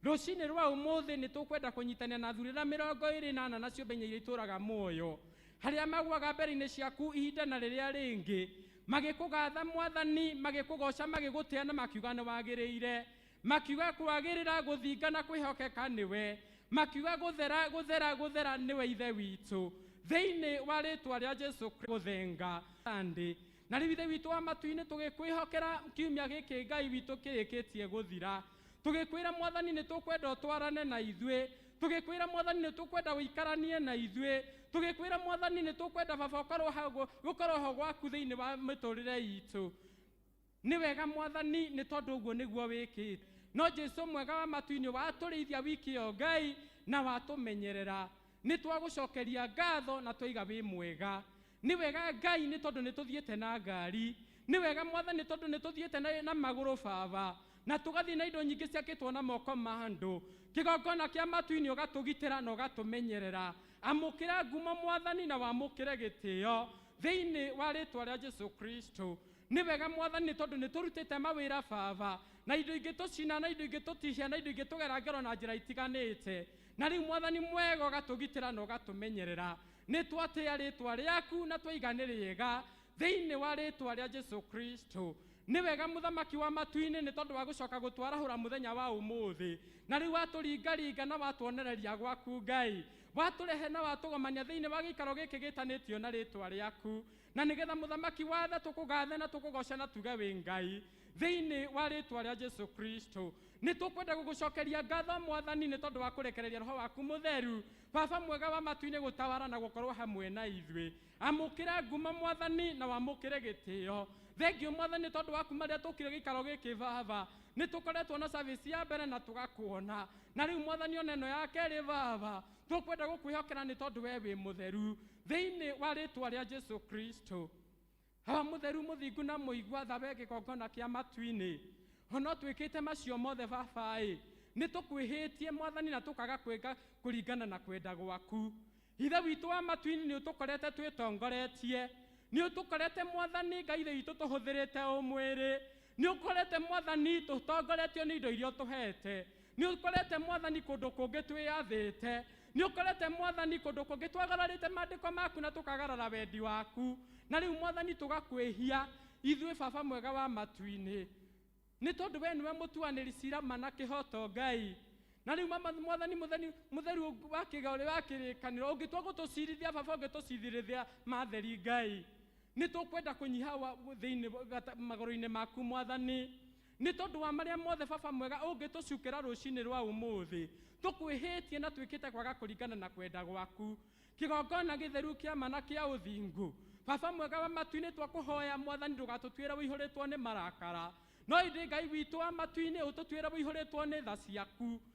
rũcinĩ rwa ũmũthĩ nĩ tũkwenda kũnyitanĩra na thurĩra mĩrongo ĩrĩ na ana na ciũmbe inya iria itũraga muoyo harĩa magwaga mbere-inĩ ciaku ihinda na rĩrĩa rĩngĩ magĩkũgatha mwathani magĩkũgoca magĩgũtĩa na makiuga nĩ wagĩrĩire makiuga kwagĩrĩra gũthinga na kwĩhokeka nĩwe makiuga gũthera gũthera gũthera nĩwe ithe witũ thĩinĩ wa rĩtwa rĩa jesu Kristo gũthenga Sunday Na rĩu Ithe witũ wa matu-inĩ, tũgĩkwĩhokera kiumia gĩkĩ Ngai witũ kĩrĩkĩtie gũthira. Tũgĩkwĩra Mwathani nĩ tũkwenda ũtwarane na ithuĩ. Tũgĩkwĩra Mwathani nĩ tũkwenda ũikaranie na ithuĩ. Tũgĩkwĩra Mwathani nĩ tũkwenda Baba ũkorwo ha, gũkorwo ho gwaku thĩinĩ wa mĩtũrĩre itũ. Nĩ wega Mwathani nĩ tondũ ũguo nĩguo wĩkĩte. No Jesu mwega wa matu-inĩ watũrĩithia wiki ĩyo Ngai na watũmenyerera. Nĩ twagũcokeria ngatho na twaiga wĩ mwega. Nĩ wega Ngai nĩ tondũ nĩ tũthiĩte na ngari. Nĩ wega Mwathani nĩ tondũ nĩ tũthiĩte na, na magũrũ Baba. Na tũgathiĩ na indo nyingĩ ciakĩtwo na moko ma andũ. Kĩgongona kĩa matu-inĩ ũgatũgitĩra na ũgatũmenyerera. Amũkĩra ngumo Mwathani na wamũkĩre gĩtĩo thĩinĩ wa rĩtwa rĩa Jesu Kristo. Nĩ wega Mwathani nĩ tondũ nĩ tũrutĩte mawĩra Baba. Na indo ingĩtũcina na indo ingĩtũtihia na indo ingĩtũgera ngero na njĩra itiganĩte. Na rĩu Mwathani mwega ũgatũgitĩra na ũgatũmenyerera. Nĩ twatĩa rĩĩtwa rĩaku na twaiga nĩ rĩega thĩinĩ wa rĩĩtwa rĩa Jesu Kristo. Nĩ wega Mũthamaki wa matu-inĩ nĩ tondũ wa gũcoka gũtwarahũra mũthenya wa ũmũthĩ. Na rĩu watũringaringa na watuonereria gwaku Ngai. Watũrehe na watũgomania thĩinĩ wa gĩikaro gĩkĩ gĩtanĩtio na rĩĩtwa rĩaku. Na nĩ getha Mũthamaki wa tha tũkũgathe na tũkũgoce na tuge wĩ Ngai. Thĩinĩ wa rĩĩtwa rĩa Jesu Kristo. Nĩ tũkwenda gũgũcokeria ngatho Mwathani nĩ tondũ wa kũrekereria Roho waku Mũtheru Baba mwega wa matu-inĩ gũtawara na gũkorwo hamwe na ithuĩ. Amũkĩra ngumo Mwathani na wamũkĩre gĩtĩo. Thengiũ Mwathani tondũ wa kuma rĩrĩa tũkire gĩikaro gĩkĩ Baba. Nĩ tũkoretwo na service ya mbere na tũgakuona. Na rĩu Mwathani ona ĩno ya kerĩ Baba. Tũkwenda gũkwĩhokera nĩ tondũ we wĩ mũtheru. Thĩinĩ wa rĩtwa rĩa Jesu Kristo. Haha mũtheru mũthingu na mũigua tha we kĩgongona kĩa matu-inĩ, o no twĩkĩte macio mothe Baba-ĩ, nĩ tũkwĩhĩtie Mwathani na tũkaga kwĩka kũringana na kwenda gwaku. Ithe witũ wa matu-inĩ nĩ ũtũkorete twĩtongoretie, nĩ ũtũkorete Mwathani Ngai Ithe witũ tũhũthĩrĩte ũ mwĩrĩ, Nĩ ũkorete Mwathani tũtongoretio nĩ indo iria ũtũheete. Nĩ ũkorete Mwathani kũndũ kũngĩ twĩyathĩte. Nĩ ũkorete Mwathani kũndũ kũngĩ twagararĩte maandĩko maku na tũkagarara wendi waku. Na rĩu Mwathani tũgakwĩhia ithuĩ Baba mwega wa matu-inĩ. Nĩ tondũ we nĩwe mũtuanĩri cira ma na kĩhoto Ngai. Na rĩu Mama Mwathani mũtheni mũtheru wa kĩga ũrĩ wa kĩrĩkanĩro ũngĩtua gũtũcirithia Baba ũngĩtũcirithia matheri Ngai. Nĩ tũkwenda kũnyiha wa- thĩinĩ wa- gata- magũrũ-inĩ maku, Mwathani. Nĩ tondũ wa marĩa mothe, Baba mwega, ũngĩtũcukĩra rũcinĩ rwa ũmũthĩ, tũkwĩhĩtie na twĩkĩte kwaga kũringana na kwenda gwaku. Kĩgongona gĩtheru kĩa ma na kĩa ũthingu. Baba mwega wa matu-inĩ, twakũhoya, Mwathani, ndũgatũtuĩre ũihũrĩtwo nĩ marakara, no ĩndĩ Ngai witũ wa matu-inĩ, ũtũtuĩre ũihũrĩtwo nĩ tha ciaku.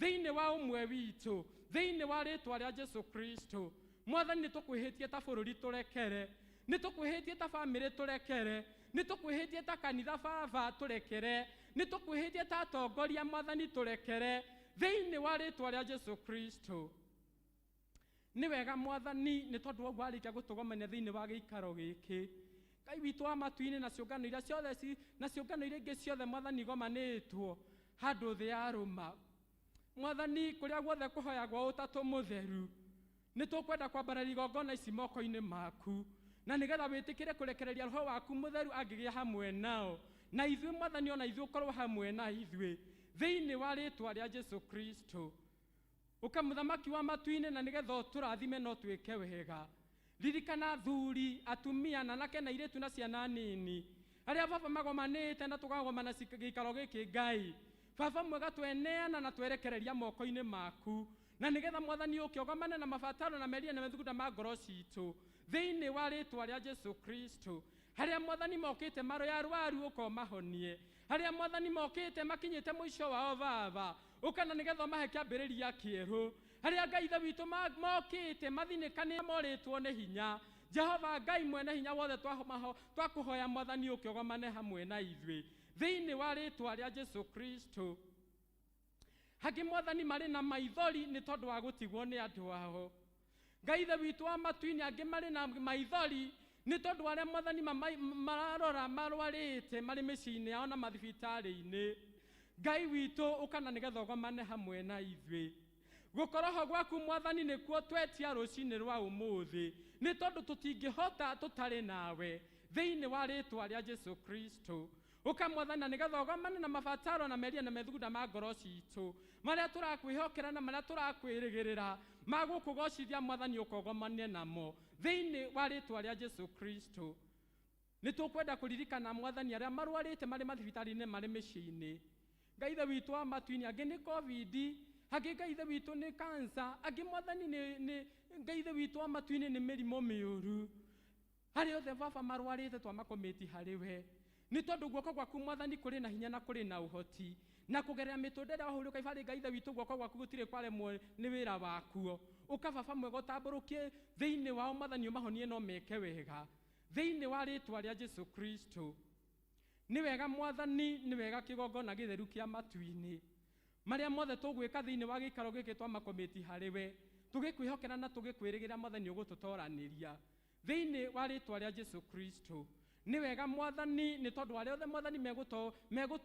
Thĩinĩ wa ũmwe witũ, thĩinĩ wa rĩtwa rĩa Jesu Kristo, Mwathani nĩ tũkwĩhĩtie ta bũrũri tũrekere, nĩ tũkwĩhĩtie ta famĩlĩ tũrekere, nĩ tũkwĩhĩtie ta kanitha baba tũrekere, nĩ tũkwĩhĩtie ta atongoria Mwathani tũrekere, thĩinĩ wa rĩtwa rĩa Jesu Kristo. Nĩ wega Mwathani, nĩ tondũ wa ũguo arĩkia gũtũgomania thĩinĩ wa gĩikaro gĩkĩ. Ngai witũ wa matu-inĩ na ciũngano iria ciothe ci- na ciũngano iria ingĩ ciothe Mwathani igomanĩtwo handũ thĩ ya rũma. Mwathani, kũrĩa guothe kũhoyagwo ũtatũ mũtheru, nĩ tũkwenda kwambararia igongona ici moko-inĩ maku na nĩgetha wĩtĩkĩre kũrekereria roho waku mũtheru angĩgĩa hamwe nao na ithuĩ Mwathani o na ithuĩ ũkorwo hamwe na ithuĩ thĩinĩ wa rĩtwa rĩa Jesu Kristo. Ũka mũthamaki wa matu-inĩ na nĩgetha ũtũrathime na ũtwĩke wega. Ririkana athuri, atumia, ananake na airĩtu na ciana nini, arĩa Baba magomanĩte na tũkagomana ci- gĩikaro gĩkĩ Ngai. Baba mwega tweneana na twerekereria moko-inĩ maku, na nĩgetha Mwathani ũke ũgomane na mabataro na merirĩria na methugunda ma ngoro citũ, thĩinĩ wa rĩtwa rĩa Jesu Kristo. Harĩa Mwathani mokĩte marĩ arwaru ũka ũmahonie, harĩa mwathani mokĩte makinyĩte mũico wao baba ũkana nĩgetha ũmahe kĩambĩrĩria kĩerũ harĩa ngai ithe witũ ma- mokĩte mathinĩkanĩte morĩtwo nĩ hinya jehova ngai mwene hinya wothe twamaho- twakũhoya mwathani ũkĩogomane hamwe na ithuĩ thĩinĩ wa rĩtwa rĩa jesu kristo Hangĩ mwathani marĩ na maithori nĩ tondũ wa gũtigwo nĩ andũ ao. Ngai ithe witũ wa matu-inĩ angĩ marĩ na maithori nĩ tondũ wa arĩa mwathani mamai- mararora marwarĩte marĩ mĩciĩ-inĩ yao na mathibitarĩ-inĩ. Ngai witũ ũkana nĩgetha ũgomane hamwe na ithuĩ. Gũkorwo ho gwaku mwathani nĩkuo twetia rũcinĩ rwa ũmũthĩ nĩ tondũ tũtingĩhota tũtarĩ nawe thĩinĩ wa rĩtwa rĩa Jesu Kristo. Ũka Mwathani na nĩgetha ũgomane na mabataro na meria na methugunda ma ngoro citũ marĩa tũrakwĩhokera na marĩa tũrakwĩrĩgĩrĩra ma gũkũgocithia Mwathani ũka ũgomane namo thĩinĩ wa rĩtwa rĩa Jesu Kristo. Nĩ tũkwenda kũririkana Mwathani arĩa marwarĩte marĩ mathibitarĩ-inĩ marĩ mĩciĩ-inĩ. Ngai Ithe witũ wa matu-inĩ angĩ nĩ Covid, angĩ Ngai Ithe witũ nĩ cancer, angĩ Mwathani nĩ, nĩ Ngai Ithe witũ wa matu-inĩ nĩ mĩrimũ mĩũru. Harĩ othe Baba marwarĩte twamakũmĩti harĩ we, nĩ tondũ guoko gwaku Mwathani kũrĩ na hinya na kũrĩ na ũhoti, na kũgerera mĩtũnda ĩrĩa wahũrirwo Kaibarĩ Ngai Ithe witũ guoko gwaku gũtirĩ kwaremwo nĩ wĩra wakuo. Ũka Baba mwega ũtambũrũkie thĩinĩ wao Mwathani ũmahonie na ũmeke wega thĩinĩ wa rĩtwa rĩa Jesu Kristo. Nĩ wega Mwathani nĩ wega kĩgongona gĩtheru kĩa matu-inĩ. Marĩa mothe tũgwĩka thĩinĩ wa gĩikaro gĩkĩ twamakũmĩti harĩ we tũgĩkwĩhokera na tũgĩkwĩrĩgĩrĩra Mwathani ũgũtũtoranĩria. Thĩinĩ wa rĩĩtwa rĩa Jesu Kristo. Nĩ wega Mwathani, nĩ tondũ arĩa othe Mwathani megũto, megũtu.